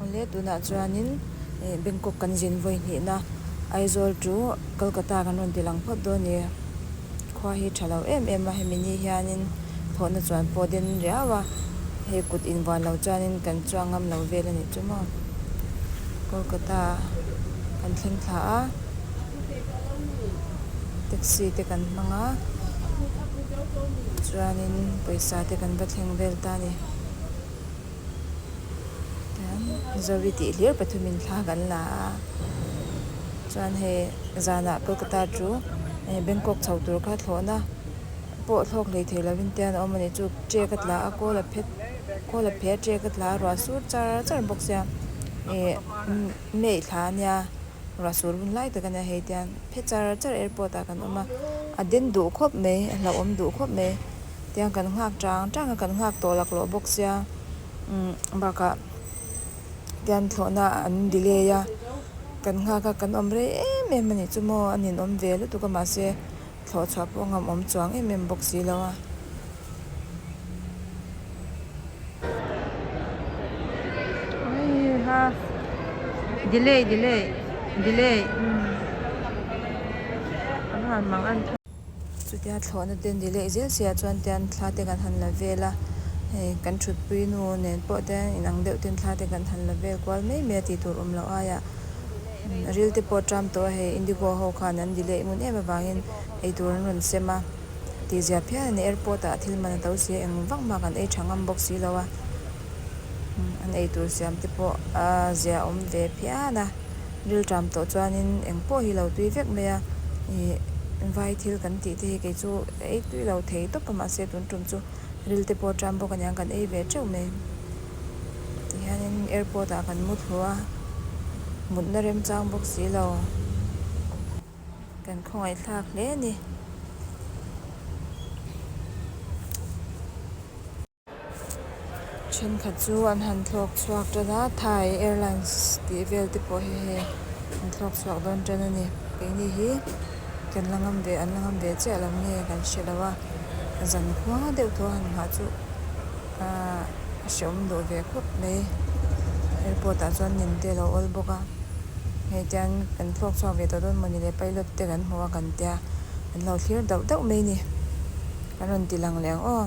Awle tunah chuanin Bangkok kan zin vawi hnihna Aizawl chu Kolkata kan rawn ti lang phawt dawn nia. Khua hi tha lo em em a, hemi ni hianin thawhna chuan pawh den riau a, hei kut in vuan lo chuanin kan chuang ngam lo vel a nih chu maw. Kolkata kan thleng thla a, taxi te kan hmang a, chuanin pawisa te kan va thleng vel ta a ni. Zoe tih hlir pathum in thla kan la a, chuan hei zana Kolkata chu Bangkok chho tur kha thlawhna pawh thlawk hlei theih lovin te an awm a nih chu che ka tla a kawl a phet kawl a pheh a che ka tla a ruah sur char char bawk sia ih May thla a nia ruah sur hun lai tak a nia hei tian phe char char airport ah kan awm a a den duh khawp mai a hlauhawm duh khawp mai. tiang kan nghak chang chang a kan nghak tawh lak loh bawk sia umm bakah tian thlawhna an delay a kan nghak a kan awm rei em em a nih chu maw a ninawm ve lutuk a mahse thlawh chhuah pawh a ngamawm chuang em em bawk si lo a. Chutia thlawhna te ni leh zel seiah chuan tian thla te kan han la vel a, hei kan thutpui nu nen pawh tian inang deuh ten thla te kan han la vel kual mai mai a tih tur awm loh aia ril te pawh ṭam tawh a, hei Indigo ho khan an delay ngun em avangin eitur an rawn sem a tih ziah phian a ni, airport ah thil man a to si a eng vak mah kan ei ṭha ngam bawk si lo a, an eitur siam te pawh a ziah awm ve phian a. Rilṭam tawh chuanin eng pawh hi lo tui vek mai a, ih, vai thil kan tih te hi kei chu ka ei tui lo thei tawp a, mahse tun ṭum chu ril te pawh ṭam bawk a niang, kan ei ve ṭeuh mai. Tihianin airport ah kan mu thlu a, mutna remchang bawk si lo, kan khawngaihthlak hle a ni. Thenkhat chu an han thlawk chhuak tan a, Thai Airlines tih vel te pawh hi hei an thlawk chhuak dawn tan a ni. Keini hi kan la ngam ve an la ngam ve chiah lo nge kan hre lo a, zan hma deuh tawh a han nghah chu a hrehawm duh ve khawp mai. Airport ah chuan nen te a lo awl bawk a, hei tian kan thlawk chhuak ve tawh dawn maw ni le pilot te kan hmu a kan tia an lo thlir dauh dauh mai a ni, an rawn ti lang leh ang aw.